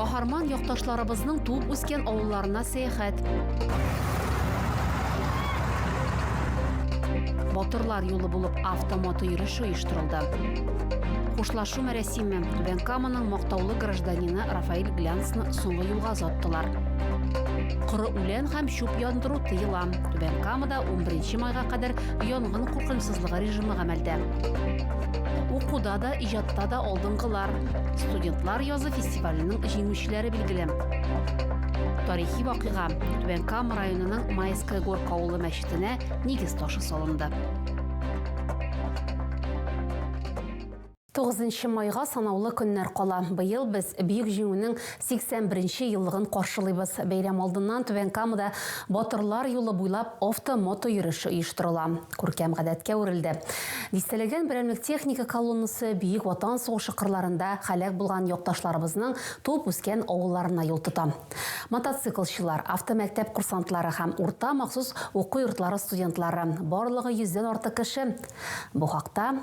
Каһарман якташларыбызның туып үскән авылларына сәяхәт. Батырлар юлы булып автомото йөреше оештырылды. Хушлашу мәрәсиме Бенкаманың мактаулы гражданины Рафаэль Глянцны соңгы юлга озаттылар. Коры үлән һәм чүп яндыру тыела. Түбән Камада 11 майга кадәр янгын куркынычсызлыгы режимы гамәлдә. Укуда да, иҗатта да алдынгылар, студентлар язы фестиваленең җиңүчеләре билгеле. Тарихи вакыйга Түбән Кама районының Майская Горка авылы мәчетенә нигез ташы салынды. Тугызынчы майга санаулы көннәр кала. Быел без Бөек Җиңүнең 81 нче еллыгын каршылыйбыз. Бәйрәм алдыннан Түбән Камада Батырлар юлы буйлап авто-мото йөреше оештырыла. Күркәм гадәткә әверелде. Дистәләгән берәмлек техника колоннасы Бөек Ватан сугышы кырларында һәлак булган якташларыбызның туып-үскән авылларына юл тота. Мотоциклчылар, автомәктәп курсантлары һәм урта махсус уку йортлары студентлары, барлыгы йөздән артык кеше. Бу хакта.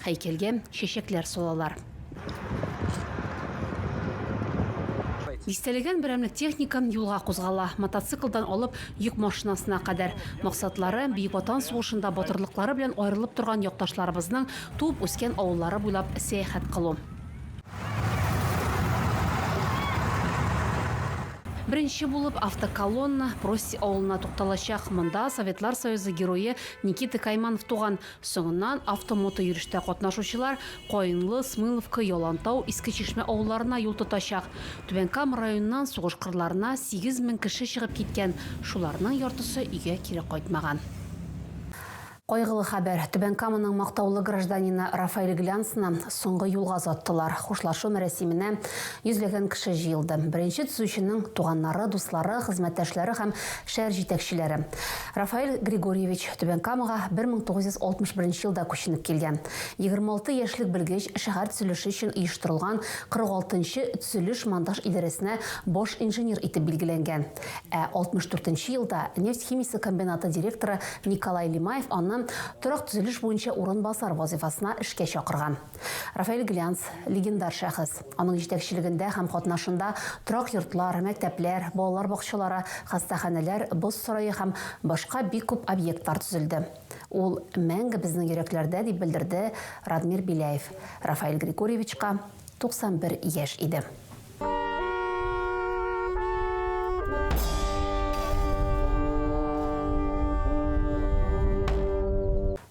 Һәйкәлгә чәчәкләр салалар. Дистәләгән берәмлек техника юлга кузгала, мотоциклдан алып йөк машинасына кадәр. Максатлары, Бөек Ватан сугышында батырлыклары белән аерылып торган якташларыбызның туып-үскән авыллары буйлап сәяхәт кылу. Беренче булып автоколонна Прости авылына тукталачак. Монда Советлар Союзы Герое Никита Кайманов туган. Соңыннан автомотойөрештә катнашучылар Каенлы, Смыловка, Ялантау, Иске Чишмә авылларына юл тотачак. Түбән Кама районыннан сугыш кырларына 8 мең кеше чыгып киткән, шуларның яртысы өйгә кире кайтмаган. Кайгылы хәбәр, Түбән Каманың мактаулы гражданины Рафаэль Глянцны соңгы юлга озаттылар. Хушлашу мәрәсименә йөзләгән кеше җыелды. Беренче төзүченең туганнары, дуслары, хезмәттәшләре һәм шәһәр җитәкчеләре. Рафаэль Григорьевич Түбән Камага 1961 елда күченеп килгән. 26 яшьлек белгеч шәһәр төзелеше өчен оештырылган 46 нчы төзелеш-монтаж идарәсенә баш инженер итеп билгеләнгән. Ә 64 нче елда нефть химиясе комбинаты директоры Николай Лимаев аны торак төзелеш буенча урынбасар вазыйфасына эшкә чакырган. Рафаэль Глянц, легендар шәхес. Аның җитәкчелегендә һәм катнашында торак йортлар, мәктәпләр, балалар бакчалары, хастаханәләр, боз сарае һәм башка бик күп объектлар төзелде. Ул мәңге безнең йөрәкләрдә, дип белдерде Радмир Беляев. Рафаэль Григорьевичка 91 яшь иде.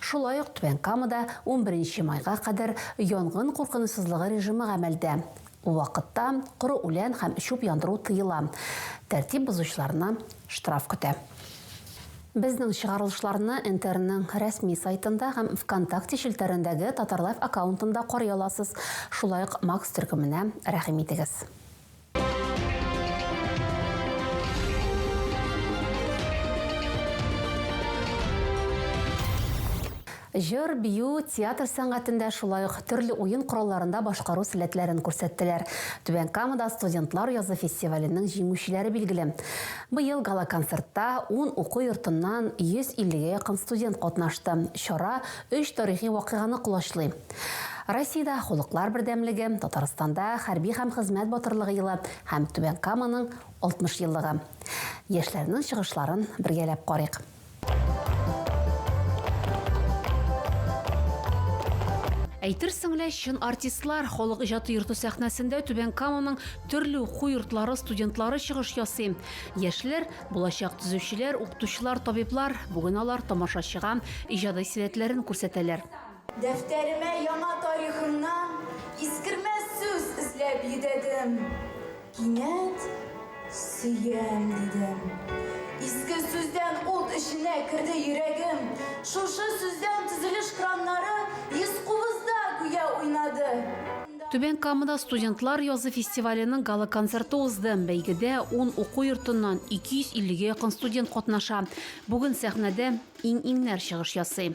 Шулай ук Түбән Камада унберенче майга кадәр янгын куркынычсызлыгы режимы гамәлдә. Ул вакытта коры үлән һәм чүп яндыру тыела. Тәртип бозучыларны штраф көтә. Безнең чыгарылышларны НТРның рәсми сайтында һәм ВКонтакте челтәрендәге Татарлайф аккаунтында карый аласыз. Шулай ук Макс төркеменә рәхим итегез. Җыр, бию, театр сәнгатендә, шулай ук төрле уен коралларында башкару сәләтләрен күрсәттеләр. Түбән Камада студентлар язы фестиваленең җиңүчеләре билгеле. Быел гала-концертта ун уку йортыннан 150 гә якын студент катнашты. Чара Өч тарихи вакыйганы колачлый. Россиядә Халыклар бердәмлеге, Татарстанда Хәрби һәм хезмәт батырлыгы елы һәм Түбән Каманың 60 еллыгы. Яшьләрнең чыгышларын бергәләп карыйк. Әйтерсең лә чын артистлар Халык иҗаты йорты сәхнәсендә Түбән Каманың төрле уку йортлары студентлары чыгыш ясый. Яшьләр Булачак төзүчеләр, укытучылар, табиблар, бүген алар тамашачыга иҗади сәләтләрен күрсәтәләр. Дәфтәремә яңа тарихымнан искермәс сүз эзләп йөдәдем. Кинәт Сөям дидем. Иске сүздән ут эченә керде йөрәгем. Шушы сүздән төзелеш краннары йөз кубызда гүя уйнады. Түбән Камада студентлар язы фестиваленең гала-концерты узды. Бәйгедә ун уку йортыннан 250 гә якын студент катнаша. Бүген сәхнәдә иң-иңнәр чыгыш ясый.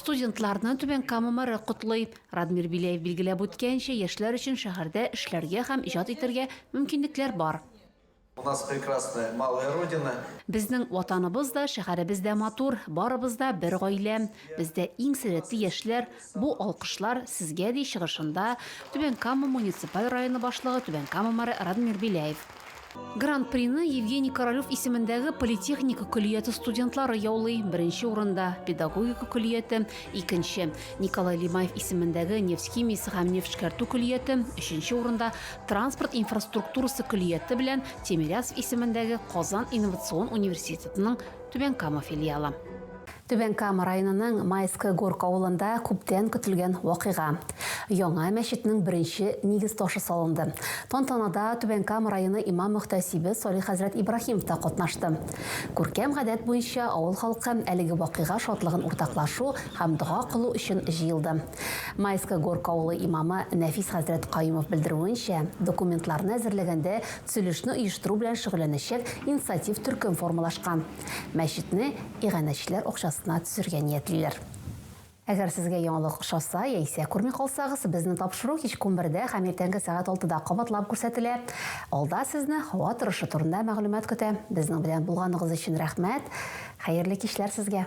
Студентларны Түбән Кама мэры котлый. Радмир Беляев билгеләп үткәнчә, яшьләр өчен шәһәрдә эшләргә һәм иҗат итәргә мөмкинлекләр бар. У нас прекрасная малая родина. Безнең Ватаныбыз да, шәһәребез дә матур, барыбыз да бер гаилә. Бездә иң сәләтле яшьләр. Бу алкышлар сезгә, ди чыгышында Түбән Кама муниципаль районы башлыгы, Түбән Кама мэры Радмир Беляев. Гран-прины Евгений Королев исемендәге политехника көллияте студентлары яулый, беренче урында, педагогика көллияте, икенче, Николай Лимаев исемендәге нефть химиясе һәм нефтьшкәртү көллияте, өченче урында, транспорт инфраструктурасы көллияте белән Тимирязев исемендәге Казан инновацион университетының Түбән Кама филиалы. Түбән Кама районының Майская Горка авылында күптән көтелгән вакыйга. Яңа мәчетнең беренче нигез ташы салынды. Тантанада Түбән Кама районы имам-мөхтәсибе Салих хәзрәт Ибраһимов та катнашты. Күркәм гадәт буенча, авыл халкы әлеге вакыйга шатлыгын уртаклашу һәм дога кылу өчен җыелды. Майская Горка авылы имамы Нәфис хәзрәт Каюмов белдерүенчә, документларны әзерләгәндә төзелешне оештыру белән шөгыльләнәчәк инициатив төркем формалашкан. Мәчетне иганәчеләр акчасына төзергә ниятлиләр. Әгәр сезгә яңалык ошаса яисә күрми калсагыз, безнең тапшыру кичке унбердә һәм иртәнге сәгать алтыда кабатлап күрсәтелә. Алда сезне һава торышы турында мәгълүмат көтә. Безнең белән булганыгыз өчен рәхмәт! Хәерле кичләр сезгә!